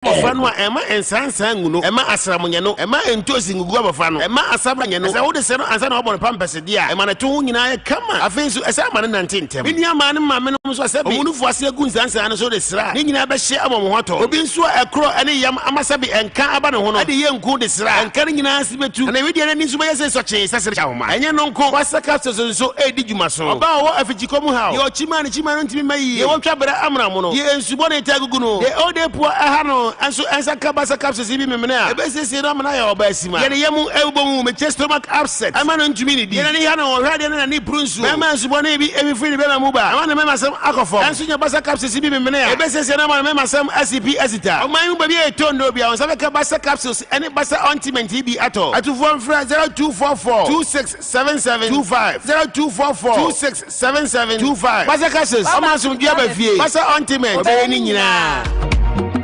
abɔfra no a, mma nsansan ngu no, mma asram nyɛ no, mma ntoosi ngugu abɔfra no, mma asabra nyɛ no. Sɛ wode sɛ no ansa na woabɔ no pampɛse de a, ma ne to ho nyinaa yɛ kama. Afei nso, ɛsɛ a ma no nante ntɛm. Me nuammaa ne me maamenom nso a sɛbe wɔn nufoɔ ase agu nsansan no so de sra a, ne nyinaa bɛhyɛ ama wɔn ho atɔ. Obi nso a ɛkorɔ ne yam ama sɛbe ɛnka aba ne ho no, de yɛ nku de sra a, ɛnka no nyinaa ase bɛtu, na ne wedeɛ no ani nso bɛyɛ sɛ sɔkyee sɛ srɛkyɛ ahoma. Ɛnyɛ ɛno nko, Kwasza capsules nso redi dwuma. So ɔbaa a ɔwɔ afikyikɔ mu haw, deɛ ɔkyima a ne kyima no ntumi mma yiye, deɛ wɔtwa bere amena mu no, deɛ nsu su bɔ ne ti agugu no. Deɛ ɛwɔ dɛ pua ɛha no nso ɛnsa ka basal capsules yi bi memene a, ɛbɛsiesie no ama no ayɛ ɔbaasima. Deɛ ne yam ɛbobɔ mu mekyɛ stomach upset ɛma no ntumi nnidi. Deɛ n'ani ha no ɔhwɛ adeɛ na n'ani puru nsuo. Bɛɛma nsu bɔne bi ɛfi firi ne bɛɛma mu ba ɛma ne mɛɛmasɛm akɔ fam. Ɛnso nya basal capsules yi bi memene a, ɛbɛsiesie no ama no mɛɛmasɛm asi pi asi ta. Ɔman yi mu baabi a ɛtɔ nnuro biara wo nsa bɛka basal capsules ɛne basal ointment yi bi atɔ. Atufoɔ mfrɛ zero two four four two six seven seven two five zero two four four two six Seven seven two five Basa ka ses ɔma asomdwoe aba fie Basa ɔnte mɛ ɔbɛyɛ ne nyinaa.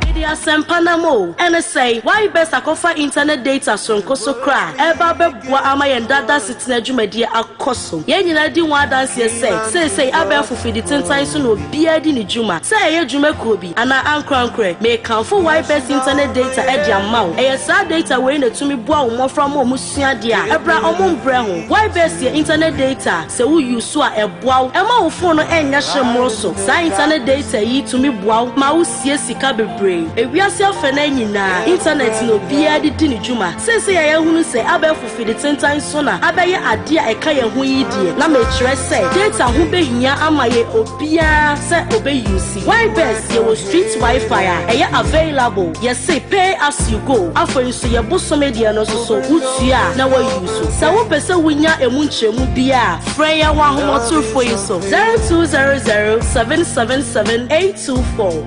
Mede asɛmpa nam o, ɛne sɛn? Why best akɔfa internet data soronko so koraa a ɛreba abɛboa ama yɛn daa daa asetena dwumadie akɔ so. Yɛn nyinaa di ho adanseɛ sɛ seesei abɛɛfo fiditentan so na obiara di ne dwuma. Sɛ ɛyɛ dwuma kuo bi. pii anaa ankorankorɛ. Mekamfo YBES internet data de ama wo. Ɛyɛ saa data wei na ɛtumi boa wo mmɔfra ma wɔn sua adeɛ a ɛberɛ a wɔn mbrɛ ho. YBES yɛ internet data a sɛ wo use so a ɛboa wo ɛma wo phone no ɛnyɛ hye mmoro so. Saa internet data yi tumi boa wo ma wo sie sika bebree. Ewiase afɛnaa nyinaa internet na obiara de di ne dwuma. Seesei a yɛahunu sɛ abɛɛfo. Afidi tentan so na abɛyɛ ade a ɛka yɛn ho yi deɛ, na mekyerɛ sɛ data ho bɛhia ama yɛn obiara sɛ ɔbɛ use. Why best yɛwɔ street WiFi a ɛyɛ available, yɛse pay as you go, afei nso yɛ bosome deɛ no nso so wotua a na wa use. Sɛ wo pɛ sɛ wo nya ɛmu nkyerɛmu biara a, frɛ yɛn wɔ ahomatorofoɔ yi so, 0200 777 824.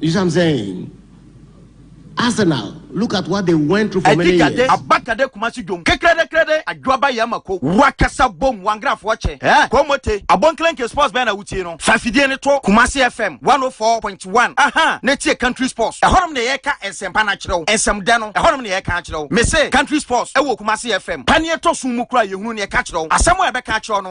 You see what I'm saying? Arsenal, look at what they went through for many years. Abakade Kumasi dwom kekrede krede adwoaba yɛ mako wakasa bom wangrafoɔ kyɛ eh kɔmɔte abɔnklenke sports bɛn na wotie no fa fidie no to Kumasi FM 104.1 aha ne tie country sports ɛhɔnom na yɛka nsɛmpa no akyerɛ wo nsɛm dɛ no ɛhɔnom na yɛka akyerɛ wo mese country sports ɛwɔ Kumasi FM paneɛ tɔ so mu kura yɛhunu ne ɛka kyerɛ wo asɛm a ɛbɛka akyerɛ no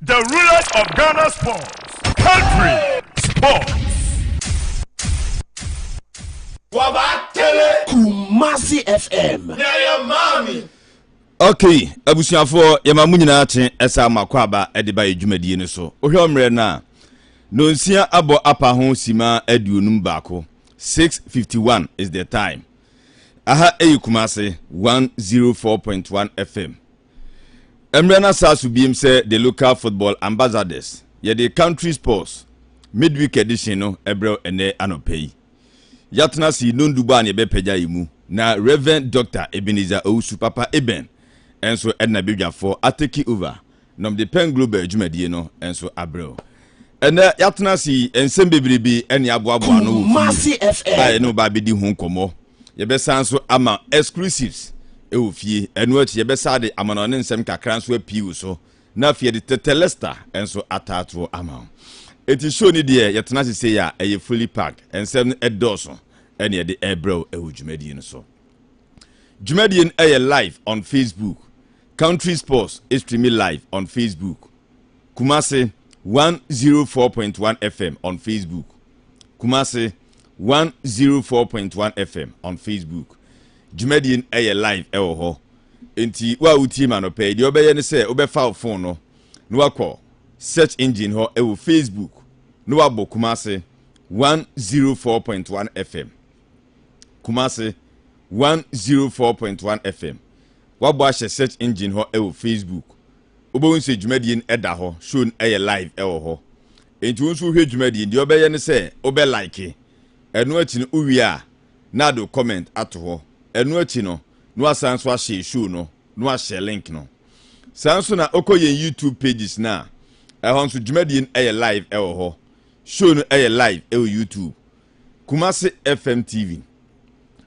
The rulers of Ghana sports. Country sports. Wabatele. Kumasi FM. Nyaya maami. Okay, abusuafoɔ yɛma mo nyinaa kye ɛsɛ ama kɔ aba ɛde ba yɛ dwumadie no so wohwɛ mmerɛ no a nonsia abɔ apa ho sima aduonum baako 651 is the time aha ɛyɛ kumase 104.1 fm Ɛmmerɛ no asaa so biem sɛ The Local Football Ambassadors. Yɛde Country Sports Midweek Edition no brɛ ɛnɛ anɔpa yi. Yɛatena ase yi nondubɔ a ne yɛbɛpagya yi mu na Rev. Dr. Ebenezer Owusu Papa Eben nso ɛde n'abadwafoɔ atake over na ɔmde Pen Global adwumadie no nso abrɛ o. Ɛnɛ yɛatena ase yi nsɛm bebrebe ne aboaboa ano wɔ fie a yɛne wo ba abɛdi ho nkɔmmɔ. yɛbɛsan nso ama exclusives wɔ fie ɛno akyi yɛbɛsa de amanɔ ne nsɛm kakra nso apii wo so na afei yɛde tɛtɛ lester nso ataatoɔ ama wo ɛti show ni deɛ yɛtena se sei a ɛyɛ fully packed nsɛm no ɛdɔɔso ɛne yɛde ɛbrɛ wo ɛwɔ dwumadie no so dwumadie no ɛyɛ live on facebook country sports streamy live on facebook kumase 104.1 fm on facebook Kumasi 104.1 FM on Facebook. Dwumadie no ɛyɛ live ɛwɔ hɔ. Nti wo a wotie ma no pɛ, deɛ wobɛyɛ ne sɛ wobɛfa wo phone no na wakɔ search engine hɔ ɛwɔ Facebook na wabɔ Kumasi 104.1 FM. Kumasi 104.1 FM. Wabɔ ahyɛ search engine hɔ ɛwɔ Facebook wobɛhu sɛ dwumadie no ɛda hɔ show no ɛyɛ live ɛwɔ hɔ nti wo nso wohwɛ dwumadie no deɛ wobɛyɛ ne sɛ wobɛ like ɛno akyi no wowie a na ade wo comment ato hɔ ɛno akyi no na wasan nso ahyɛ show no na wahyɛ link no saa nso na wokɔ yɛn youtube pages no a ɛhɔ nso dwumadie no ɛyɛ live ɛwɔ hɔ show no ɛyɛ live ɛwɔ youtube Kumasi FM TV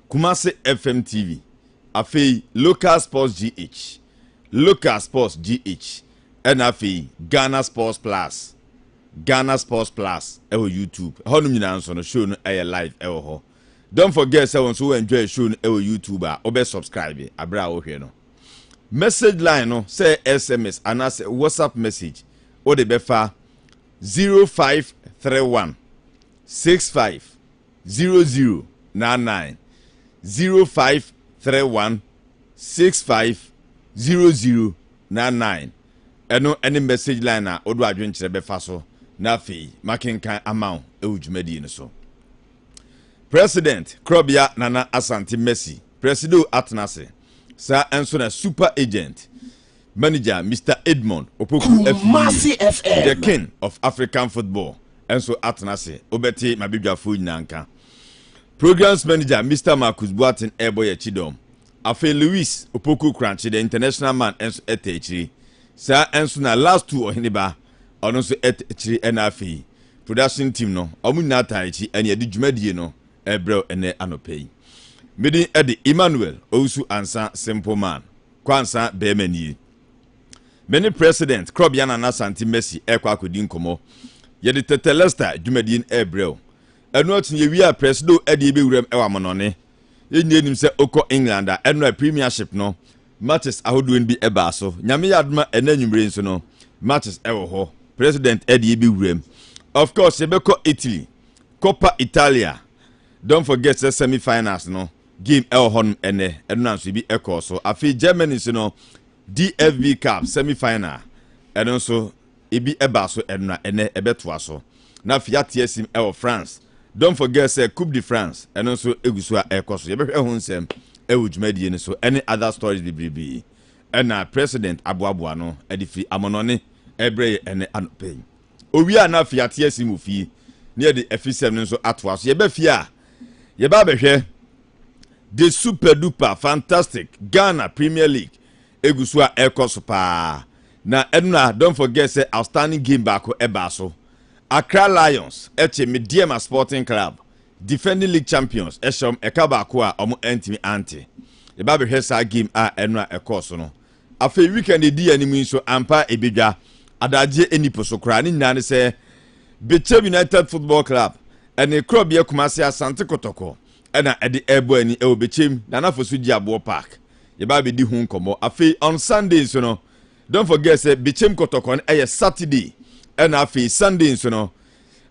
Kumasi FM TV afei Local Sports GH Local Sports GH ɛna afei Ghana Sports Plus Ghana Sports Plus ɛwɔ YouTube ɛhɔ nom nyinaa nso no show no ɛyɛ live ɛwɔ hɔ don't forget sɛ wɔn nso wɔ enjoy show no ɛwɔ YouTube a wɔbɛ subscribe abere a wɔhwɛ no message line no sɛ SMS anaasɛ WhatsApp message wɔde bɛfa zero five three one. six five zero zero nine nine zero five three one six five zero zero nine nine ɛno ɛne message line a wode adwenkyerɛ bɛfa so na afei makenkan ama wo ɛwɔ dwumadie no so president korɔbea nana asante mercy presido atena ase saa nso na super agent manager Mister Edmond Opoku afii The King of African Football nso atena ase. Wobɛte m'abadwafoɔ nyinaa nka. Programs manager Mister Marcus Boateng ɛrebɔ yɛ kyidɔm. Afei Louis Opoku Korankye the international man nso ɛtɛ akyiri. Saa nso na last two ɔheneba ɔno nso ɛtɛ akyiri ɛna afei production team no wɔn nyinaa taa akyi ɛne ɛde dwumadie no ɛbrɛw ɛnɛ anɔpɛ yi. Medin ɛde Emmanuel Owusu Ansa Simple Man. Kwansa bɛɛma nie. Me ne President Krɔbea Nana Asante Mercy ɛɛkɔ akɔdi nkɔmɔ. Yɛde Tetelesta dwumadie no ɛɛbrɛ wo. Ɛno akyi no yɛwie a Presido ɛde yɛbɛwura mu ɛwɔ Amonɔne. Yɛn nyinaa nim sɛ wokɔ England a ɛno a Premiership no matches ahodoɔ no bi ɛbaa so. Nyame yɛ adom a ɛnɛ anwumerɛ yi nso no matches ɛwɔ hɔ. President ɛde yɛbɛwura mu. Of course yɛbɛkɔ Italy, Coppa Italia. Don't forget sɛ semi finals no game ɛwɔ hɔnom ɛnɛ, ɛno na nso ebi ɛkɔɔ so. Afei Germany nso no, DFB Cup semi final, ɛno nso ebi ɛbaa so, ɛno na ɛnɛ ɛbɛtoa so. Na afei ate asim ɛwɔ France. Don't forget sɛ Coupe de France ɛno nso egu so a ɛkɔ so. Yɛbɛhwɛ ho nsɛm ɛwɔ dwumadie no so ɛne other stories bebrebe. Ɛna president aboaboa no ɛde firi amɔnɔne ɛbrɛ yɛ ɛne anɔpɛ yi. Owie a na afei ate asim wɔ fie ne yɛde afisɛm no nso atoa so. Yɛbɛ fie a Yɛba abɛhwɛ The Super Duper Fantastic Ghana Premier League egu so a ɛrekɔ so paa. Na ɛno na don't forget sɛ outstanding game baako ɛbaa so. Accra Lions ɛkye Medeama Sporting Club defending league champions ɛhyɛ wɔn ɛka baako a wɔn antumi ante. Yɛba abɛhwɛ saa game a ɛno a ɛkɔɔ so no. Afei weekend a edi yɛn anim yi nso, ampa ara ebedwa. Adagyeɛ nni po so koraa. Ne nyinaa ne sɛ Bekyem United Football Club ne Korɔbea Kumase Asante Kɔtɔkɔ na ɛde rebɔ ani wɔ Bekyem Nana Fosu Gyeaboɔ Park. Yɛba abedi ho nkɔmmɔ. Afei on Sunday nso no, don't forget sɛ Bekyem Kɔtɔkɔ no yɛ Saturday ɛna afei Sunday nso no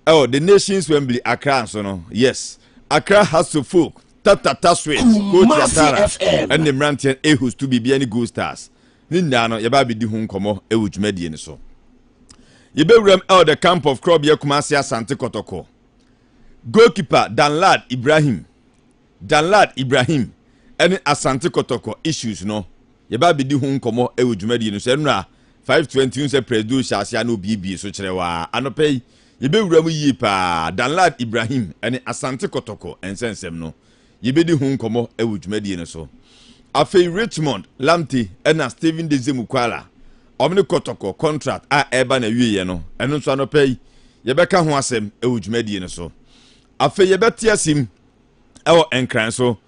Oh, the nations Wembley, Accra nso no, yes. Accra has to folk, Tata Taswit, Coach Watara, ɛne mmeranteɛ Ehus to biribiara ne Gold Stars. Ne nyinaa no, yɛbɛ abɛdi ho nkɔmmɔ wɔ dwumadie no so. Yɛbɛwuram ɛwɔ the camp of Krɔbeɛ Kumase Asante Kɔtɔkɔ. Goalkeeper Danlad Ibrahim, Danlad Ibrahim ne Asante Kotoko issues no yɛbɛ abedi ho nkɔmmɔ wɔ dwumadie no so ɛnora 5:20 wohu sɛ Prɛsdo hyɛ aseɛ a na obiebie so kyerɛw a anɔpa yi yɛbɛwura mu yie paa Danlad Ibrahim ne Asante Kotoko nsɛnsɛm no yɛbɛdi ho nkɔmmɔ wɔ dwumadie no so afei Richmond Lamte na Stephen Deze Mukwala wɔn ne Kotoko contract a ɛreba na awieɛ no ɛno nso anɔpa yi yɛbɛka ho asɛm wɔ dwumadie no so afei yɛbɛte asim ɛwɔ nkran so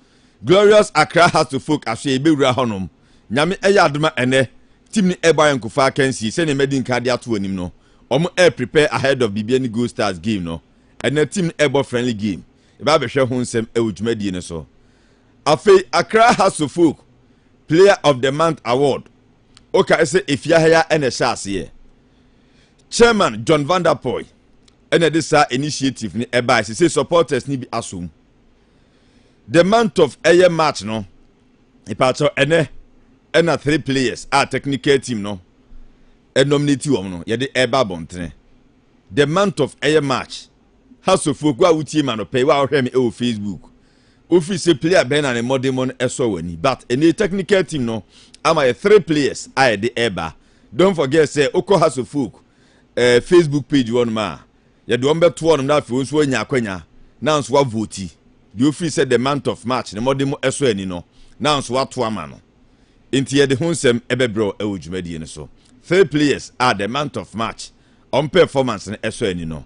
glorious accra heart to folk asoɛ yɛbɛwura hɔnom nyame ɛyɛ adoma ɛnɛ tim ne ɛbɔ ayɛ nkofa akansie sɛdeɛ madi nka de ato anim no wɔn air prepare ahead of biribi ne gold stars game no ɛnɛ tim ne ɛbɔ friendly game yɛbɛ abɛhwɛ ho nsɛm ɛwɔ dwumadie no so afei accra heart to folk player of the month award wokae sɛ ɛfie ahaya ɛna ɛhyɛ aseɛ chairman john vanderpoy ɛna ɛde saa initiative no ɛbae sɛ sɛ supporters no bi asom the month of ɛyɛ march no mpakyɛw ɛnɛ ɛna three players a technical team no ɛnominate wɔn no yɛde ɛba abɔntene the month of ɛyɛ march hasofoɔ kó a wotie ma no pɛi wa ɔhwɛ me ɛwɔ facebook ofiri sɛ player bɛn na ne mmɔdenmɔ no ɛsɔ wɔn ani but ɛnɛ technical team no ama yɛ three players a yɛde ɛba don't forget sɛ okɔ hasofoɔ eh, facebook page hɔ nom a yɛde wɔn bɛto hɔ nom na afei wɔn nso anya akwanya na nso wavoti deɛ ofiri sɛ the month of march na wɔde mo ɛsɔ ani no na nso wato ama no nti yɛde ho nsɛm ɛbɛbrɛ wɔ ɛwɔ dwumadie no so three players a the month of march wɔn performance no ɛsɔ ani no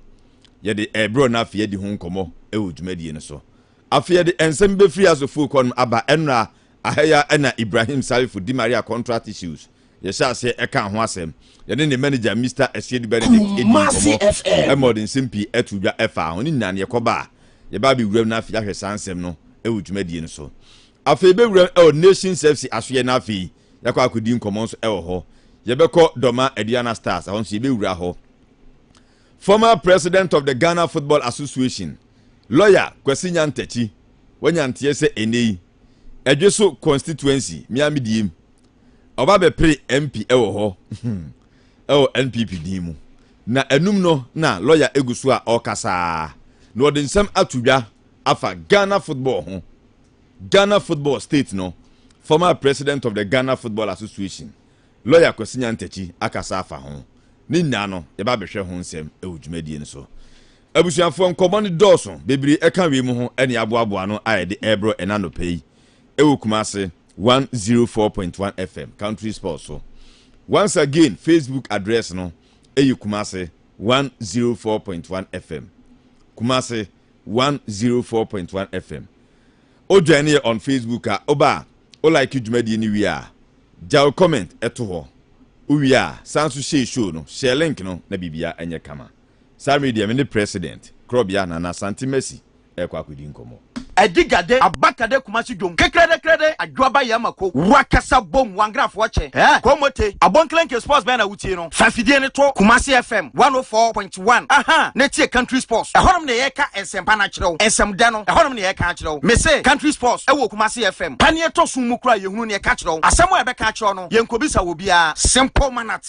yɛde ɛbrɛ no afei yɛde ho nkɔmɔ ɛwɔ dwumadie no so afei yɛde nsɛm bɛfiri asofo kɔ nom aba ɛnora ahɛya ɛna ibrahim salifo di maria contract issues Yɛhyɛ aseɛ ɛkaa ho asɛm. Yɛne ne manager Mister Asiedi Benedict ɛdii Kumasi nkɔmmɔ FM. ɛma ɔde nsɛm pii ɛtoo dwa ɛfaa ho. Ne nyinaa no yɛkɔba a, yɛba abɛwuram no afei yɛahwɛ saa nsɛm no ɛwɔ dwumadie no so. Afei yɛbɛwuram ɛwɔ Nations FC asoeɛ no afei yɛakɔ akɔdi nkɔmmɔ nso ɛwɔ hɔ. Yɛbɛkɔ Dɔma Aduana Stars, ɛhɔ nso yɛbɛwura hɔ. Former President of the Ghana Football Association, Lawyer Kwasi Nyantakyi, wanya nteɛ sɛ ɛnnɛ yi, Ɛdweso Constituency, me ara medie mu. ɔba bɛpere MP wɔ hɔ wɔ NPP din mu. Na anum no na lɔya egu so a ɔrekasa ara na ɔde nsɛm ato dwa afa Ghana football ho. Ghana football state no former president of the Ghana Football Association, lɔya Kwasi Nyantakyi akasa afa ho. Ne nyinaa no yɛba bɛhwɛ ho nsɛm wɔ dwumadie no so. Abusuafoɔ nkɔmmɔ no dɔɔso bebree ɛka wei mu ho ɛne aboaboa no a yɛde ɛrebrɔ ɛna nɔpɛ yi ɛwɔ Kumase. 104.1 FM Country Sport so. Once again, Facebook address no ɛyɛ Kumase 104.1 FM. Kumase 104.1 FM. O join yɛ on Facebook a oba a o like dwumadie no wie a gya o comment ɛto hɔ. Wowie a san so share show no, share link no na bibia ɛnyɛ kama. Saa mmerɛ deɛ me ne President Korɔbea Nana Santi Mercy ɛɛkɔ akɔdi nkɔmmɔ. Ɛdi gade aba kade Kumasi dwom kekrɛdɛ krɛdɛ adwo aba yɛ ma ko wa kasa bom wangrafoɔ kyɛ ɛɛ ko mote abonkelenke sports bɛn na wo tie no fa fidie no to Kumasi FM 104.1 ahaa na tie country sports ɛhɔnom na yɛ ka nsɛmpa no akyerɛ wo nsɛm dɛ no ɛhɔnom na yɛ ka akyerɛ wo me se country sports ɛwɔ Kumasi FM pa ne ɛtɔ som mu kora yɛ hunu ne ɛka kyerɛ wo asɛm a yɛbɛka akyerɛ wo no yɛ nkɔbisa wɔ biara simple manner.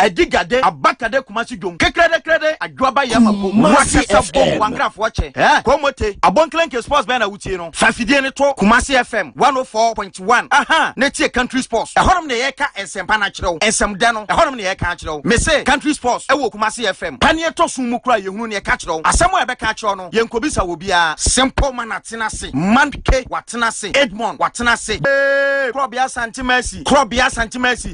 Adi gade aba kade Kumasi dwom kekrɛdɛ krɛdɛ adwo aba yɛ ma bom wo akasa bom wo ankrafoɔ kyɛ ɛɛ Komote Abonklenke sports bɛn na wo tie no fa fidie no to Kumasi FM 104.1 ahaa na tie country sports ɛhɔ nom na yɛ ka nsɛmpa no akyerɛ wo nsɛm dɛ no ɛhɔ nom na yɛ ka akyerɛ wo me se country sports ɛwɔ Kumasi FM pa ne ɛtɔ so mu koraa yɛ hunu neɛ ka kyerɛ wo asɛm a yɛ bɛ ka akyerɛ wo no yɛ nko bisa wɔ biaa Simple man atena se man ke watena se Edmond watena se ee Krɔbea Asante Mercy Krɔbea Asante Mercy.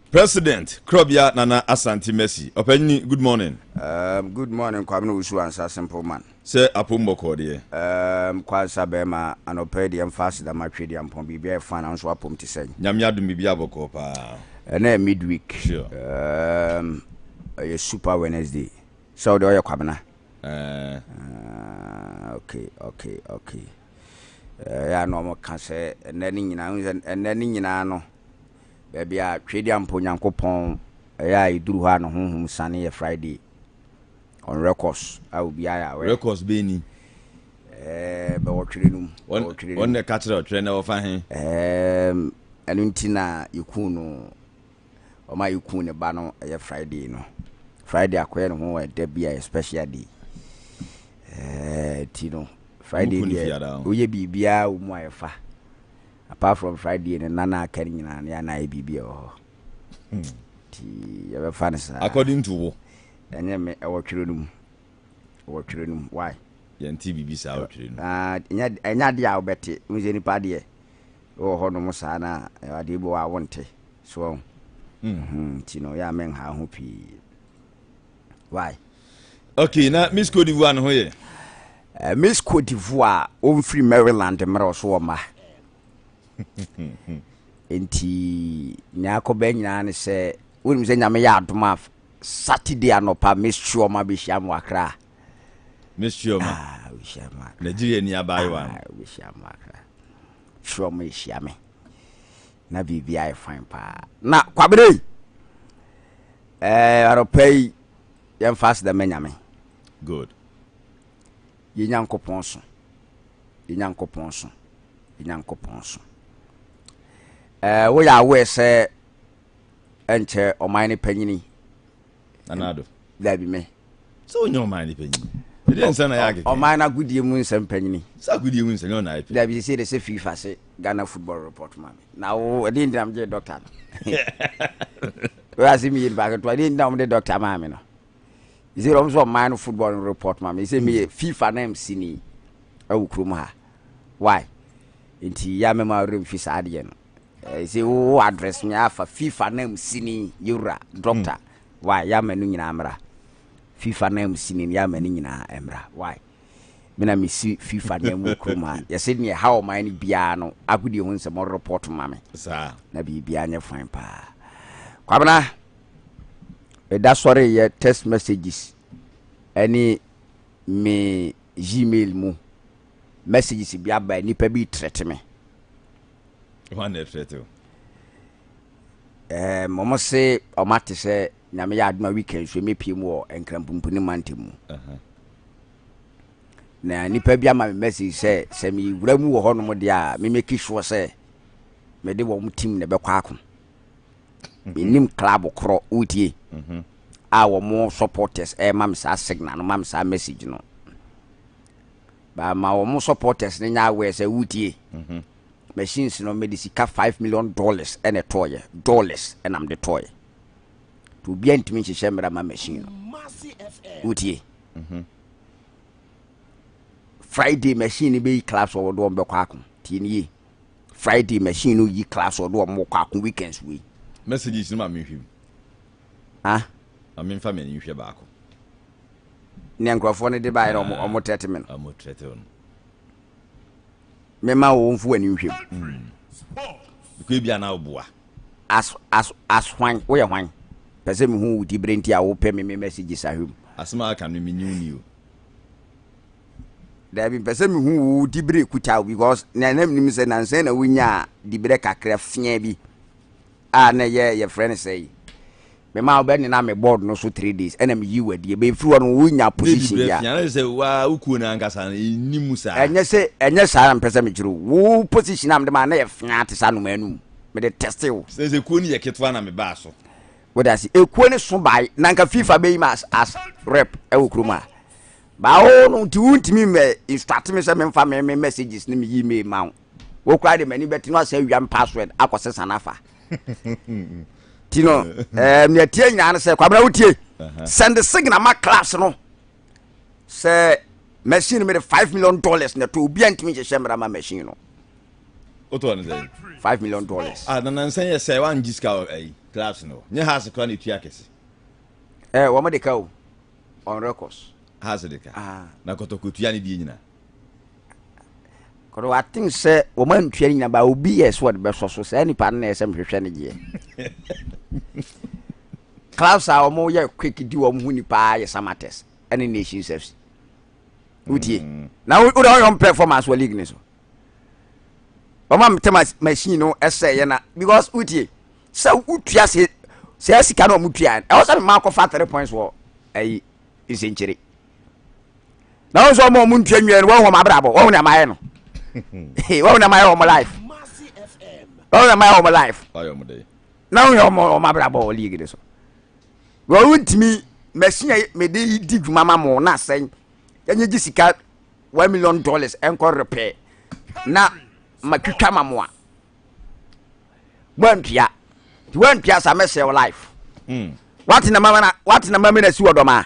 President Krɔbea Nana Asante Mercy Ɔpanyini good morning. Um, good morning Kwame no wusu ansa simple man. Sɛ apom bɔkɔɔ deɛ. Um, kwansa bɛrima anɔpɛ deɛ mfa aseda ma twɛ deɛ mpɔn biribi ayɛ fan nso apom te sɛn. Nyame adom biribi abɔkɔɔ paa. Ɛnɛ yɛ midweek. Sure. Um, ɛyɛ super Wednesday. Sɛ ɔde ɔyɛ kwabena. Uh, uh, okay, okay, okay. Ɛyɛ uh, ano ɔmo ka sɛ ɛnɛ ne nyinaa ɛnɛ ne nyinaa no. baabi a Twedeampo Nyankopɔn yɛ a ɛduru hɔ a ne honhom siane yɛ Friday on records a obiara yɛ aware. Records bɛn ni? Ɛɛ bɛwɔ twere no mu. Bɛwɔ twere no mu. Wɔn na ɛka kyerɛ ɔtwerɛ na wɔfa he. Ɛɛm ɛno nti na yɛkuu no wɔn a yɛkuu ne ba no ɛyɛ Friday no. Friday akɔyɛ ne ho ɛda bi a yɛ special day. Ɛɛ ti no Friday deɛ woyɛ biribiara wɔ mu a yɛfa. Apart from Friday no nna na aka no nyinaa no yɛ a na ayɛ biribi a ɛwɔ hɔ. Nti yɛbɛfa no saa. According to wo? Ɛnyɛ me, ɛwɔ twerɛ no mu. Ɛwɔ twerɛ no mu. Why? Yɛnte biribi saa wɔ twerɛ no mu. Ah, ɛnyɛ ɛnyɛ adeɛ a wobɛte. Wohu sɛ nipa adeɛ wɔ hɔ nom saa no a, ɛwɔ adeɛ bi wɔ hɔ a wonte. So wahu? Mhm, nti no yɛ a menhaa ho pii. why. okay na miss cote divoire no ho yɛ. Uh, miss cote divoire ɔmfiri maryland mmerɛ ɔso wɔ mma nti nea akɔbɛ nyinaa ne sɛ wonim sɛ nyame yɛ adom a saturday anɔpa miss chioma bɛhyia m wakra miss chioma ah, nigeria ni abaayewa no ah, chioma ɛhyia me na biribiara yɛ fine paa. Na Kwabena yi, eh, anɔpa yi, yɛmfa aseda ma Nyame. Good. Yɛ Nyankopɔn so, yɛ Nyankopɔn so, yɛ Nyankopɔn so. Eh, woyɛ aware sɛ ɛnkyɛ ɔman no panyini anaado dabi me sɛ ɔnyɛ ɔman ne panyin ɛdɛ nsɛm na yɛ akekɛ ɔman no agodie mu nsɛm panyini sɛ agodie mu nsɛm yɛ ɔna ɛpɛ dabi sɛ de sɛ fifa se ghana football report ma me na wo ɛde ntina megye dɔkta no wɛase meyɛ nipa ketewa ɛde ntina wɔmde dɔkta maa me no ɛsɛ ɔm sɛ ɔman no football no report ma me sɛ meyɛ hmm. fifa na msini ɛwo kurom ha why nti yɛ mɛma werɛ mfi saa adeɛ no Ɛsɛ wo address me afa FIFA na mu sini yɛwura doctor hmm. why yɛama no nyinaa mmra FIFA na mu sini no yɛama no nyinaa mmra why mena mesi FIFA na mu kurom a yɛsɛ neɛ ha ɔman no biara no agodie ho nsɛm report ma me na biribiara nyɛ fan paa kwabena meda sɔre yɛ text messages ɛne me gmail mu messages bi aba nnipa bi trɛte me hwan na ɛfrɛ te o um, wɔn se wɔn ate sɛ nyame yɛ adoma weekend so mepie mu wɔ nkrampumpuni mante mu na nipa bi ama me message sɛ sɛ mewura mu wɔ hɔnom deɛ a memɛki soɔ sɛ mede wɔn tim na ɛbɛkɔ ako mhm. menim club korɔ wotie mhm. a wɔn supporters ɛma eh, me saa signal no ma me saa message no ba ma wɔn supporters no nya aware sɛ wotie mhm. machines no mede sika five million dollars ɛna ɛtɔɔyɛ dollars ɛna mede tɔɔyɛ nti obiara ntumi nhyehyɛ mmara ma machine no wotie mhm. friday machine no bɛyi class wɔ wɔde wɔn bɛkɔ ako tie no yie friday machine no yi class wɔde wɔn kɔ ako weekends wei messages no ma mehwim ah ma memfa m'ani nhwɛ baako nea nkurɔfoɔ no de baeɛ na wɔn wɔn trɛte me no. a mo trɛte wɔn. Mema wo nfu w'ani nhwɛ mu. Mm. Because ebi a na ɔboa. As as as hwan woyɛ hwan? Pɛ sɛ mehu wo tibire nti a wopɛ me me messages ahwɛ mu. Asɛm a aka no menni wo ni o. Daabi mpɛ sɛ mehu wo tibire kuta wo because na na menim sɛ nansɛn na wonyaa dibire kakra fiaa bi. a na ɛyɛ yɛfrɛ no sɛ yi me ma wobɛ nena me board no so three days ɛna meyi wadi ɛbɛyɛ firi hɔ no wonya position bi a sɛ waa wo kuo no ankasa no ɛnni mu saa ɛnyɛ sɛ ɛnyɛ saa na mepɛ sɛ mekyerɛ o wo position a mede maa na yɛ fea te sɛ anomaa no mu mede teste wo sɛ sɛ kuo no yɛ ketewa na mebaa so wode ase ɛkuo no so bae na nka fifa bɛyi ma as, as rep ɛwɔ kurom a baa wo no nti wontumi mɛ instruct me sɛ memfa me me messages ne me yi me ma wo wo koraa de m'ani bɛte no asɛ awia me password akɔ sesa no afa nti no eh, nea tie nyinaa no sɛ kwabena wotie sɛnde signal ma class no sɛ machine no mede 5 million dollars na to obia ntumi nhyehyɛ mmara ma machine no wotɔ no sɛ 5 million dollars ah, nanansɛn yɛ sɛ woangye sika ayi eh, class no nyɛ hase kora na ɛtua kɛse eh, wɔmde ka o on records hase de ka ah. na kɔtɔkɔtua ne deɛ nyinaa Cause wa think sɛ wɔn antua ne nyina ba obi yɛ sɛ wɔde bɛsɔ so saa nipa no na ɛsɛ mehwehwɛ ne gyeɛ clubs a wɔn yɛ quick di wɔn ho nipa yɛ samates ɛne nations fc wotie mm. na wo na wɔyɛ wɔn performance wɔ league ne so wɔn a mete machine no ɛsɛ yɛ na because wotie sɛ wotua se sɛ sika na wɔn tua ɛwɔ sɛ mmaa kɔfa three points wɔ ɛyi nsɛnkyere. na wɔn nso wɔn a wɔn ntua nwiɛ no wɔn wɔn abrabɔ wɔn na mayɛ no wɔn na mayɛ wɔn life wɔn na mayɛ wɔn life na wɔn yɛ wɔn wɔn abrabɔ wɔ league de so wɔn ntumi machine a mede di dwuma ma mo na asɛn yɛnyɛ gye sika one million dollars ɛnkɔ repɛ na matwitwa ma mo a wɔantua nti wɔantua sa mɛsɛ wɔ life hmm. wate na mama na wate na mama na si wɔ dɔm a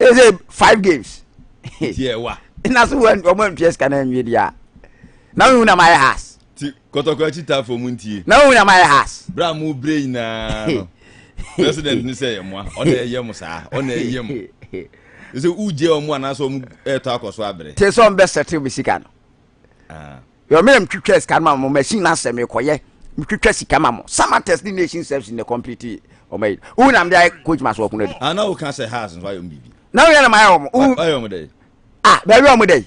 ɛsɛ five games tiɛ wa na so wɔn wɔn ntwi ɛsika na nwi deɛ na wɔn na ma yɛ has ti kɔtɔkɔ akyi ta fam ntie na wɔn na ma yɛ has bra mu bere nyinaa no president ni sɛ yɛ mua ɔna ɛyɛ mu saa ɔna ɛyɛ mu ɛsɛ ugye wɔn anaasɛ wɔn ɛɛtɔ akɔ so abere. te sɛ wɔn bɛ sɛte wɔn sika no. yɛ mmerɛ metwitwa sika no ma mo machine no asɛ mekɔyɛ metwitwa sika ma mo samates ne nation service ne complete ɔma yi wo nam de ayɛ coach maso ɔko no adu ana wo ka sɛ has nso ayɛ ɔmo biribi na woyɛ na mayɛ ɔmo ayɛ ɔmo dɛ ah baabi ɔmo dɛ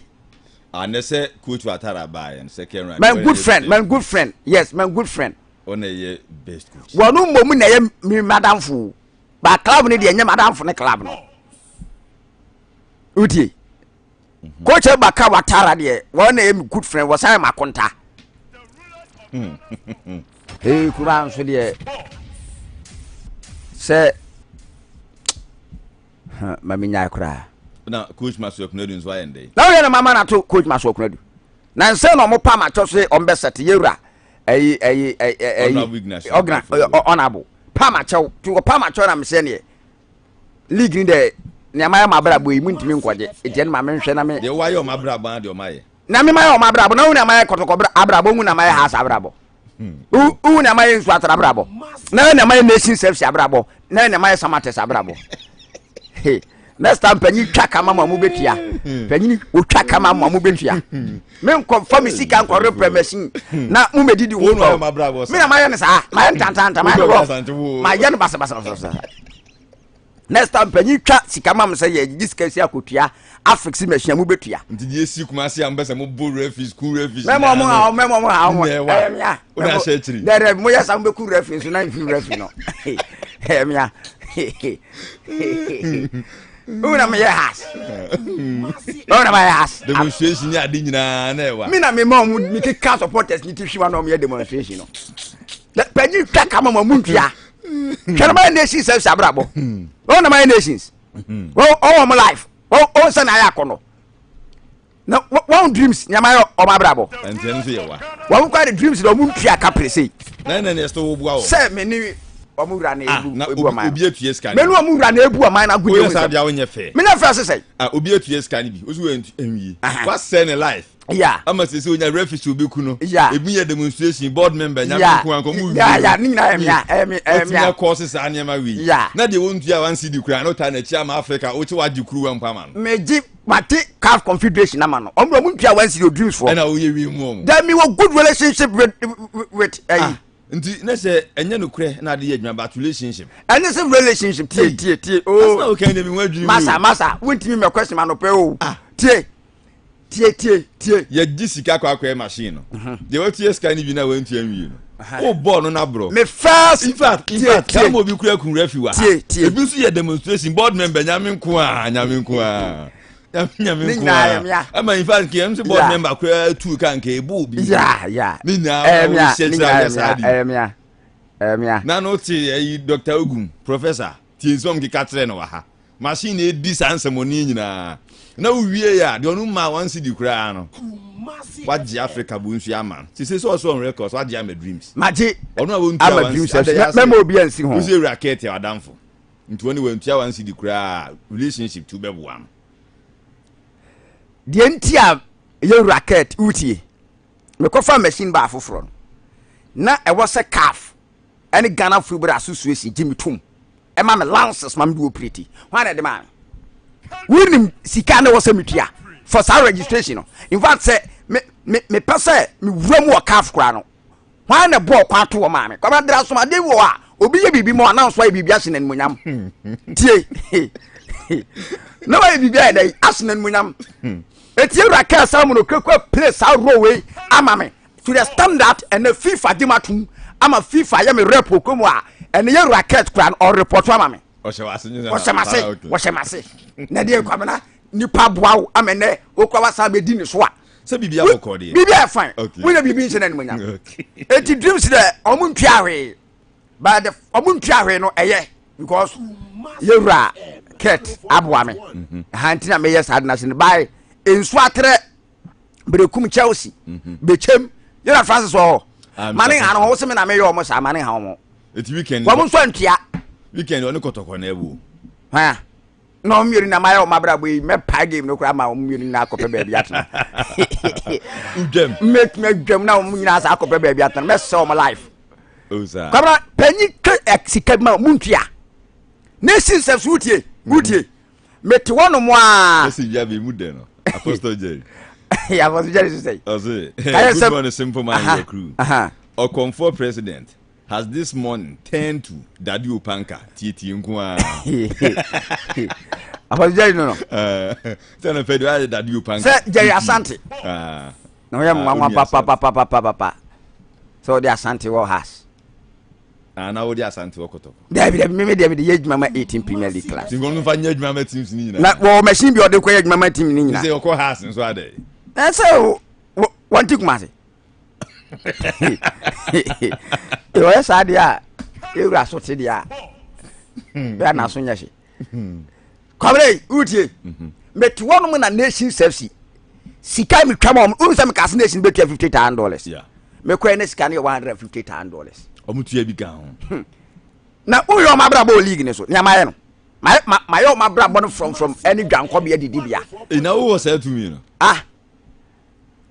anɛ sɛ coach atara baa yɛn sɛ kɛrin right my good friend my good friend yes my good friend ɔna yɛ best coach wɔn no mbɔ mu na yɛ mi madamfo ba club ne deɛ nyɛ madamfo ne club no wotie Mm-hmm. Coach Abaka Watara deɛ wɔn na yɛ mi good friend wɔsan yɛ ma konta. Ee hmm. kura nso deɛ sɛ mami nyaa koraa. Na coach Masu Akunadu nso ayɛ ndɛ. Na wɔyɛ na mama na to coach Masu Akunadu. Na nsɛn na wɔn pa ma kyɛ so yɛ wɔn bɛ sɛte yɛ wura ɛyi ɛyi ɛyi ɛyi ɔgna ɔnabo pa ma kyɛw ti wɔ pa ma kyɛw na mi sɛ neɛ. league ni dɛ nea mayɛ wɔn abrabɔ yi muntumi nkɔgye eti ɛno ma menhwɛ na me. Deɛ wɔayɛ wɔn abrabɔ ara deɛ wɔayɛ. Na me mayɛ wɔn abrabɔ na wohu nea mayɛ kɔtɔkɔ abrabɔ wohu nea mayɛ house abrabɔ hmm. wohu nea mayɛ nsu atara abrabɔ na yɛ nea mayɛ nation service abrabɔ na yɛ nea mayɛ samates abrabɔ next time panyin twa kama ma mo betua hmm. panyin otwa kama ma mo betua. menkɔ mfa me sika nkɔ reprɛ machine na mo mɛ didi wo tɔ me na mayɛ no saa mayɛ no tantanta mayɛ no rough mayɛ no basabasabasa next time panyin twa sika ma mo sɛ yɛ gye sika si akotua afix machine mo bɛtua nti deɛ si kuma se a mo bɛ sɛ mo bo refi school refi mɛmɔ mo ha mɛmɔ mo ha mo ɛyɛ mia o na ahyɛ akyiri dɛ dɛ mo yɛ sa mo bɛ ku refi nso na nfi refi no ɛyɛ mia wo na meyɛ has wo na mayɛ has demonstration ne ade nyinaa na ɛwa me na mema ɔmo mekeka supporters ne ti hwiwa na ɔmoyɛ demonstration no panyin twa ka ma ma mu ntua hwɛ no mayɛ nations sɛ sɛ abrabɔ wo na mayɛ nations ɔwɔ mo life ɔwɔ sɛ na ayɛ akɔnɔ na wɔn dreams nneɛma yɛ wɔn abrabɔ. ɛnti ɛno nso yɛ wa. wɔn kɔ de dreams na wɔn ntua ka pere sei. na ɛna ne ɛsɛ wo bua wɔn. sɛ mɛ ni wɔn wura na ah, ebu na ebu ɔman. obi etua sika ni bi. mɛ ni wɔn wura na ebu ɔman na agunye wɔn nsɛm. o yɛ sábìá o nyɛ fɛ. mi na fɛ sisan. ah obi etua sika ni bi o si wɔ nwie. wa sɛ ne life. ya ama sɛ sɛ o nya refuge obi ku no. ya ebi yɛ demonstration board member nya mi kun ankɔ mu wi. ya ya ne nyinaa ɛmi ya ɛmi ɛmi ya. o ti nya kɔɔsi saa nneɛma wi. ya na deɛ o ntua wa nsi di kura n'o ta n'akyi ama Africa o ti wa di kuru wa nkwa ma no. mɛ ji mate caf confederation ama no ɔmo ɔmo ntua wɔn si yɛ dreams fɔ. ɛna oyɛ wie mu ɔmo. then mi wɔ good relationship with with ɛyi. Ah, nti ne sɛ ɛnyɛ no korɛ na adi yɛ adwuma but relationship. ɛne sɛ relationship tie tie tie ooo. Oh. asana okan de mi ho adwiri mu. masa masa wuntumi mɛ question ma no pɛ o. Ah. tie tie tie tie. yɛ di sika kɔ akɔyɛ machine no. Mhm. deɛ wɔtua sika ni bi na wɔn ntua nwie no. o bɔɔl no n'aborɔ. me first in fact in fact tie tie obi kura kun refi wa ha tie tie ebi nso yɛ demonstration board member nyame nko a nyame nko a nyame nko a ama in fact kìí ɛnso board member kura tu ka nka ebo obi ya ya ne nyinaa ɛyɛ mia ne nyinaa ɛyɛ mia ɛyɛ mia na no te ɛyi doctor ogun professor. Tie nsɛm a mekeka kyerɛ no wɔ ha. Machine na edi saa nsɛmmɔne yi nyinaa. Na wowie a, deɛ ɔno mmaa wɔn sidi koraa no, wagye Africa bu nso ama no. Sese sɛ ɔsɛ on records, wagye ama Dreams. Magye ɔno a wɔntua ama Dreams ɛso. Mɛ mɛma obi ansi ho. Wosɛ ewura Kate a ɔdamfo. Nti wɔn de wɔntua wɔn sidi koraa relationship tu bɛboa no. Deɛ nti a yɛwura Kate wotie. Mekɔfa machine baa foforɔ no. Na ɛwɔ sɛ calf ɛne Ghana Football Association gye me tom ɛma me lances ma me de operate hwan na ɛde maa me wonim sika na ɛwɔ sɛ metua for saa registration no in fact sɛ me me mepɛ sɛ mewura mu wɔ caf koraa no hwan na bɔɔ kwan to wɔ maa me kwamadra asomaden wɔ a obi yɛ biribi ma ɔnam so ayɛ biribi ahyɛ n'animonyam tie na wayɛ biribi ayɛ dɛ ahyɛ n'animonyam etie wura kɛɛ saa mu no kurakura play saa role wei ama me To the standard ɛnɛ fifa gye ma tom ama fifa yɛ me rep okɔ mu a ɛnɛ yɛ racket kora no ɔrepɔto ama me ɔhyɛ wase ɔhyɛ mase ɔhyɛ mase na deɛ kwamena nipa boa wo ama ɛnɛ okura wasa bɛdi ne so a sɛ biribi abɔ kɔ deɛ biribi ayɛ fine wonyɛ biribi nhyɛ no animonyam eti dreams dɛ ɔmo ntua hwee but the ɔmo ntua hwee no ɛyɛ because yɛwura kurt aboa me ɛha nti na meyɛ saa de na se no bae nsu aterɛ bere kum chelsea mhm. bekyɛm yɛna francis wɔ hɔ ah, mane ha no ho wosɛ me na meyɛ ɔmo saa mane ha ɔmo wɔm nso antua weekend ɔne kɔtɔkɔ na ɛwo ha na ɔmo mmienu na mayɛ ɔmo abrabɔ yi mɛpae game no koraa ma ɔmo mmienu na akɔpɛ baabi atena mɛtumi adwam na ɔmo nyinaa saa akɔpɛ baabi atena mɛsɛ ɔmo life kwabra panyin ka eh, sika bi ma ɔmo ntua na esi nsɛm so wotie wotie mete hɔ nom aa. Message bi abɛ mu dɛ no, Apostle Jerry. yeah, Apostle Jerry so say. Ɔse, good morning simple man your crew. Ɔkɔmfoɔ president has this morning turned to Daddy Opanka tietie nko aa. Apostle Jerry no no. Sɛ no fɛ de ayɛ Daddy Opanka. Sɛ Jerry Asante. Na ɔyɛ mwanwa papapapapapa. Sɛ ɔde Asante wɔ has. Ah, na wode asante wɔ kɔtɔkɔ dabi dabi meme deɛ mede yɛ adwuma ma 18 premier league class nti nkɔmfa nyɛ adwuma ma teams no nyinaa na wɔwɔ machine bi ɔde kɔyɛ adwuma ma team no nyinaa sɛ ɔkɔ has nso adɛ ɛsɛ wɔnte kuma ase ɔyɛ saa deɛ a ɛwura so te deɛ a bɛa naso nyɛ hye kɔmrɛ yi wotie mhm. mete hɔ nom na nation safety sika mi twam ɔmo wonu sɛ meka se nation bɛtua fifty thousand dollars mekɔɛ ne sika no yɛ one hundred and fifty thousand dollars ɔmo tua bi gan ho hmm. na woyɛ ɔmo abrabɔ wɔ league ne so nea mayɛ no mayɛ ɔmo abrabɔ no frɔmfrɔm ɛne dwankɔbea didibea ɛna wowɔ saa tumi no ah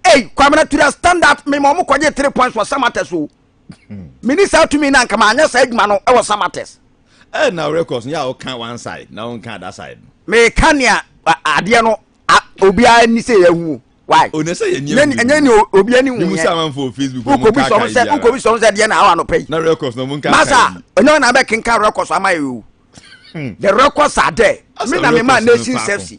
ei kwamena tura stand up mema ɔmo kɔgye three points wɔ samata so mini saa tumi na nka maanyɛ saa adwuma no wɔ samates eh, na records no yɛ a woka one side na wonka other side no meka nea adeɛ no obiara ni sɛ yɛahu why ɔnɛ sɛ yɛnyɛ ne obi ani hu yɛ wokɔbi sɔm sɛ wokɔbi sɔm sɛ deɛ na awa no pɛ yi na records no monka masa ɔnyɛ ɔna bɛkenka records ama yɛ o hmm. the records are there me na me ma nation safety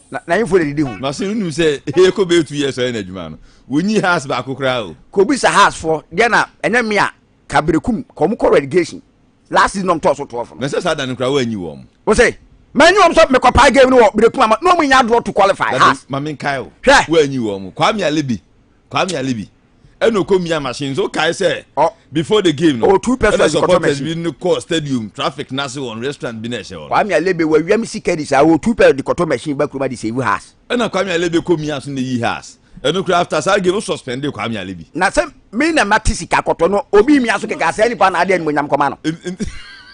Na n'ahemfo na edidi ho. Na so wunim sɛ Heko bɛyɛ two years ɔyɛ n'adwuma no? Wonyi Haas baako koraa o. Kobisa Haasfoɔ deɛ na ɛnyɛ me a ka berekum ka wɔn kɔ relegation last season na wɔn tɔɔ so twelve no. Na sɛ saa da no koraa wanyi wɔn. Wose manyi wɔn sɛ mekɔpae game no wɔ berekum ama na wɔn nya draw to qualify Haas. Dade ma menkae o. Hwɛ. Wanyi wɔn. Kwame Alebe. Kwame Alibi ɛna ɔkɔ mia machine so kae sɛ before the game no oh, ɛna supporters bi no kɔ stadium traffic n'ase wɔn restaurant bi na ɛhyɛ hɔ. Kwame Alebe wɔ wiam sika di saa ɔtu pɛ de kɔtɔ machine ba kuruma de sɛ ewu has. ɛna Kwame Alebe kɔ mia so na eyi has ɛno kura after saa game no suspend Kwame Alebe. na sɛ mi na ma ti sika kɔtɔ no obi mia so kɛkɛ asɛ nipa na adi ɛnumonyam kɔma no.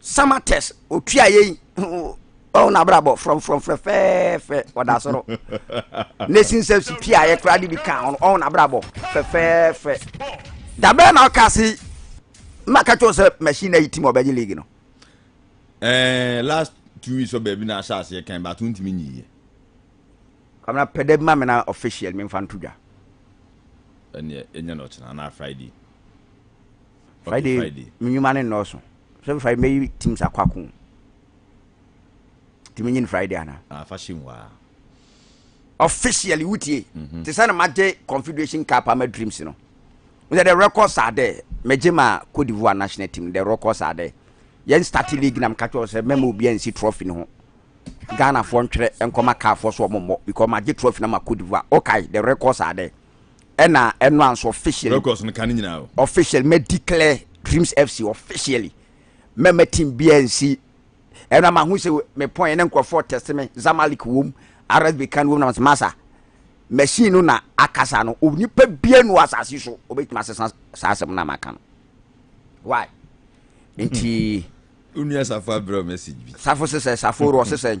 summer test otua yɛ yi ɔwɔ n'abrabɔ frɔmfrɔm fɛfɛɛfɛ ɔda soro nation service pii a yɛkora de bi ka ho ɔwɔ n'abrabɔ fɛfɛɛfɛ dabɛn na ɔka se mma ka kyɛw sɛ machine na yi tim ɔbɛgye league no. ɛɛ eh, last two weeks ɔbɛ bi na ahyɛ aseɛ kan bato ntumi nyi yɛ. kamara pɛdɛ bi ma mi na official mi nfa nto dwa. ɛnneɛ ɛnyɛ na ɔkyena anaa friday. Friday me nnwuma no nnɔɔso sɛ Friday mɛyi teams akɔ ako nti menyi no Friday ana ah, fa hyɛ mu aa officially wotie mhm. te sɛ na magye confederation cup ama dreams no sɛ the records are there megye ma Cote d'Ivoire national team the records are there yɛn start league na meka kyerɛ sɛ mɛma obi ansi trophy no ho ghanafoɔ ntwerɛ nkɔma kaafoɔ so ɔmommɔ because magye trophy no ma Cote d'Ivoire okay the records are there ɛna ɛno anso officially records no ka ne nyinaa o officially mɛ declare dreams fc officially mɛ mɛ team biara nsi ɛna ma ho sɛ me pɔn ɛna nkurɔfoɔ test me zamalek wɔm rsb kan wɔm na mas masa machine no na akasa no onipa biara no asase so obɛtumi asesa saa asɛm no amaka no why nti onua safo abrɛ message bi safo sesɛ safo rɔ sesɛ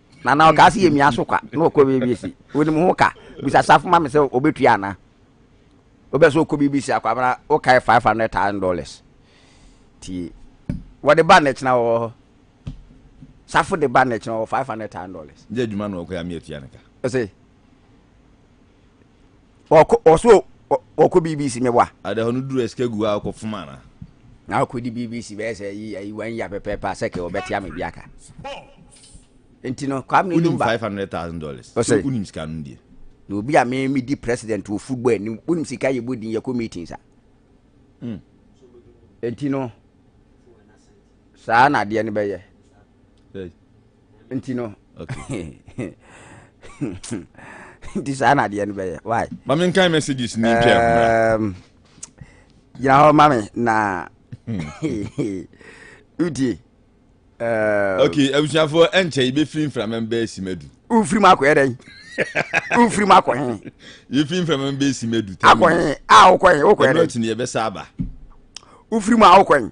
Na na ɔkaa se yɛmia so kwa na ɔkɔ baabi si. Wonim ho ka? Bisa Safo ma me sɛ ɔbɛtua anaa. Wobɛ sɛ ɔkɔ biribi si akwabena wokae five hundred thousand dollars. Ti wɔde ba nnɛkyena wɔ hɔ. Safo de ba nnɛkyena wɔ five hundred thousand dollars. Gye adwuma na ɔkɔ yɛ amea tua ne ka. Ɔse. Ɔkɔ ɔso ɔkɔ BBC mɛ wa. Ada hɔ no duru ɛsikɛ gu a ɔkɔ fuma na. Na ɔkɔ di BBC bɛyɛ sɛ yi ayi wɔn yi apɛpɛ pa sɛ kɛ ɔbɛte ame bi aka. Nti no kwam ne numba. Unim five hundred thousand dollars. Ɔsɛ. Unim sika no die. Na obi a mɛ mi di president wɔ football anim unim sika yɛ bɔ din yɛ kɔ meetings a. Mm. Nti no saa na adeɛ no bɛyɛ. Hey. nti no nti saa na adeɛ no bɛyɛ why ma me nkan messages ne ntwa um, gyina hɔ ma me na wotie um, ok abusuafoɔ ɛnkyɛ yɛbɛfiri mframa bɛɛ si madu wofiri mu akɔyɛ dɛn wofiri mu akɔ he yɛfiri mframa bɛɛ si madu akɔ he a wokɔ he wokɔyɛ dɛn ɛnɔtene yɛbɛsa aba wofiri mu a wokɔ he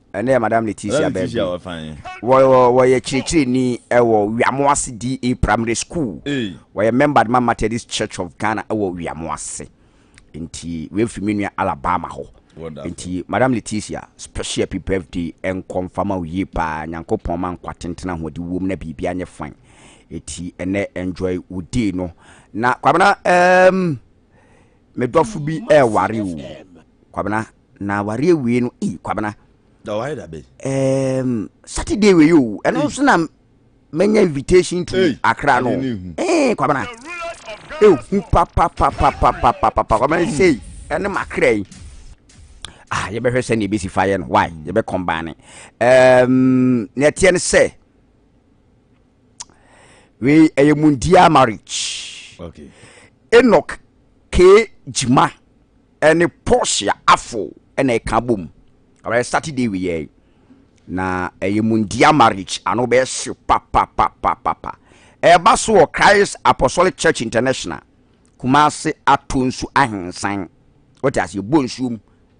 ɛnɛ yɛ madam leticia bɛɛbi wɔyɛ kyerɛkyerɛni ɛwɔ wiamoase da primary school wɔyɛ member ma methodist church of ghana ɛwɔ wiamoase nti wɔafiri me nua alabama hɔ nti madam leticia special happy birthday ɛnkɔ mfama wo yie paa nyankopɔn ma nkwa tentena ho de wom na biribi anyɛ fan ɛti ɛnɛ enjoy wo day no na kwabena um, medɔfo bi ɛɛware o kwabena na awari awie no ee kwabena. ɔware da bɛyi. ɛɛm saturday wei o ɛno nso na manya invitation to akra no ee kwabena ehu papapapapapapa kwabena sei ɛne makra yi ah yɛbɛhwɛ sɛ ne ebesi fa yɛ no why yɛbɛ kɔmbaane ɛɛm na ɛteɛ ne sɛ. wei ɛyɛ mundia marriage okay. enok kee gyima ɛne portia afo ɛna ɛka bom ɔbɛyɛ saturday wei yɛ na ɛyɛ mundia marriage ano bɛyɛ hyew papapapapa ɛba so wɔ christ apostolic church international kumase ato nsu ahensan wɔte ase ɛbɔ nsuom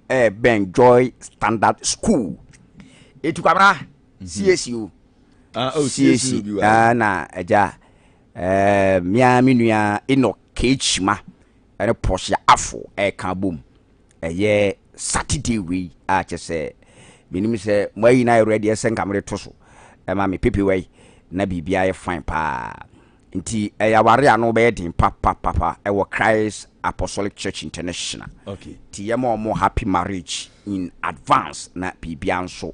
ɛbɛn joy standard school ɛtu kwabra mhm. siesie o ah, oh, siesie ah, na agya eh, mmea me nua enok kechima ɛne pɔsia afo ɛka bom ɛyɛ saturday wei a kyɛ sɛ menim sɛ moayi no ayɛ redeɛ sɛ nka mede to so ɛma me pepe wei na biribiaa yɛ fine paa Nti ɛyɛ aware a na wɔbɛyɛ den papapapa wɔ Christ Apostolic Church International. Okay. Nti yɛma wɔn happy marriage in advance na biribiara nso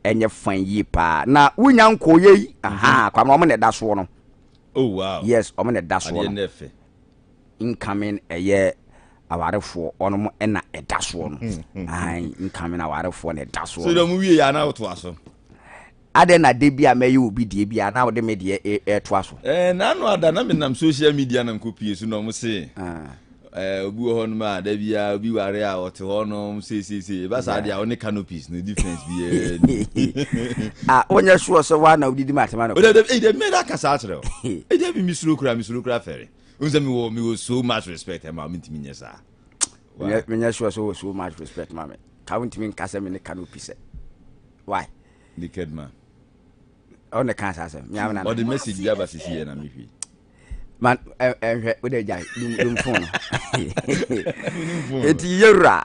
ɛnyɛ fan yie paa. Na wonya nkɔɔyɛ yi, mhm. aha, kwamina wɔn na ɛda soɔ no. Oh wow. Yes, wɔn na ɛda soɔ no. Incoming ɛyɛ awarefoɔ ɔnom ɛna ɛda soɔ no. Ahan, incoming awarefoɔ na ɛda soɔ no. So dɛ mo wie yɛ anawotoa so. Adɛn na da bi a mɛyɛ obi deɛ bi a na wode me deɛ e, ɛretoa so? Ɛɛ n'ano ada na menam social media na nkɔpie so na wɔn se ah. ɛɛ obi wɔ hɔnom a da bi a obi ware a ɔte hɔnom seeseesei ɛba saa deɛ a ɔne canopies no difference bi ɛɛ. a wonyɛ soɔ sɛ waa na wodidi ma atema no. o de de de mmɛ da kasa akyerɛ o e de bi misuro kura misuro kura fɛre o sɛ mi wɔ mi wɔ so much respect ɛma mi ntumi nyɛ saa. menyɛ soɔ sɛ wɔ so much respect ma mi. ka wontumi nka sɛ me ne ka no pi sɛ why naked man ɔno na ɛka saa sɛm meamena ɔde message bi aba sisi yɛ na mehwɛ man ɛnhwɛ wode gyae dumfo no ɛti yɛwura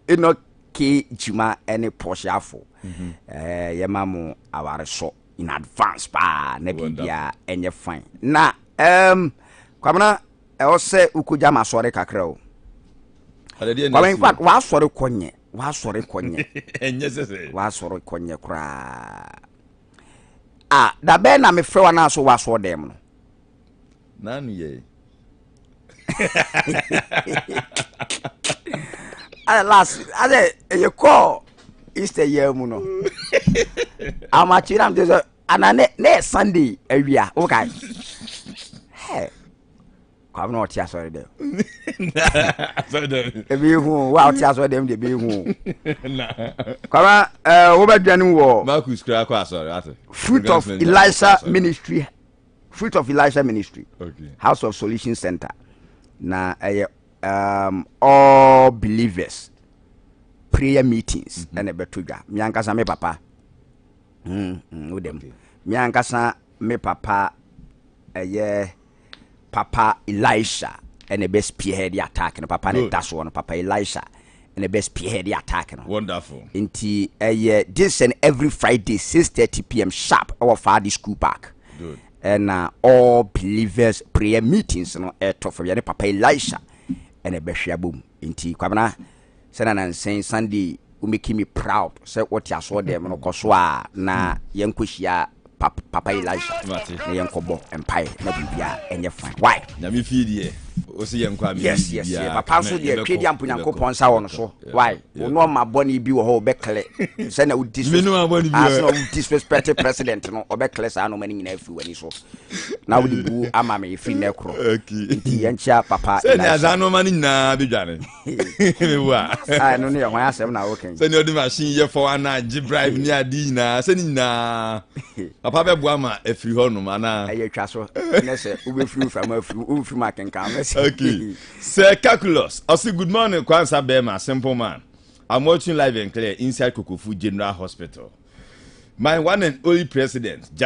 ɛnɔ ke kyima ne pɔhyeafo mhm. eh, yɛma mo awaresɔ in advance paa na biribia ɛnyɛ fine na kwamena Ɛwɔsɛ wokɔgya masɔre kakra o. Kwame in fact w'asɔre kɔ nyɛ w'asɔre kɔ nyɛ w'asɔre kɔ nyɛ koraa ah dabɛn na mefrɛ wa naa so w'asɔɔ dɛm no. Nanu yɛ. Ayɛ last ayɛ ɛyɛ kɔɔ Easter yɛ mu no. Amakyina mte sɛ ana ne ne yɛ sunday awia eh, wokae hɛ kwame na ɔte asɔre dɛm ebi ehu o wa ɔte asɔre dɛm de ebi ehu o kwame ɛɛ wobɛdwani wɔ marcus kura akɔ asɔre ate fruit of elisha ministry fruit of elisha ministry okay. house of solution center na ɛyɛ um, all believers prayer meetings ɛna ɛbɛto dwa mi ankasa mi papa. Mm, mm, wo dɛm. Okay. Me ankasa me papa ɛyɛ papa Elisha ɛna ɛbɛ spearhead the attack no papa ne da soɔ no papa Elisha ɛna ɛbɛ spearhead the attack no. Wonderful. Nti ɛyɛ this and every Friday six thirty pm sharp ɛwɔ Faadi school park. Good. Ɛna uh, all believers prayer meetings no ɛtɔ fam yɛ ne papa Elisha ɛna ɛbɛ hwɛ abom. Enti Kwabena sɛ na nansen Sunday wo making me proud sɛ wo te asoɔ dɛm no kɔ so a na yɛn kɔ hyia pap papa Elisha na yɛn kɔ bɔ mpaeɛ na biribiara ɛnyɛ fine why. Nyame fie deɛ ose yɛn kɔ a me yes yes yes papa nso deɛ twe deɛ ampo Nyankopɔn nsa wɔ no so why wo no ɔma bɔne bi wɔ hɔ ɔbɛ kle sɛ na wo disrespect asena wo disrespect president no ɔbɛ kle saa no ɔma ne nyinaa firi wani so na wode bu ama me ɛfiri nɛ korɔ nti yɛnkyea papa sɛnea saa nnoɔma no nyinaa bɛdwane mebu a ɛno no yɛ hwan asɛm na wokɛn sɛnea ɔde machine yɛ fɔ ana gye bribe ne ade nyinaa sɛne nyinaa papa bɛboa ma afiri hɔ nom anaa ɛyɛ twa so nɛ sɛ wobɛfiri wo frama afiri womfiri mu akenkan okay sɛ calculus ɔse good morning kwansa bɛma simple man I'm watching live and clear inside Kokofu General Hospital. My one and only president, Jack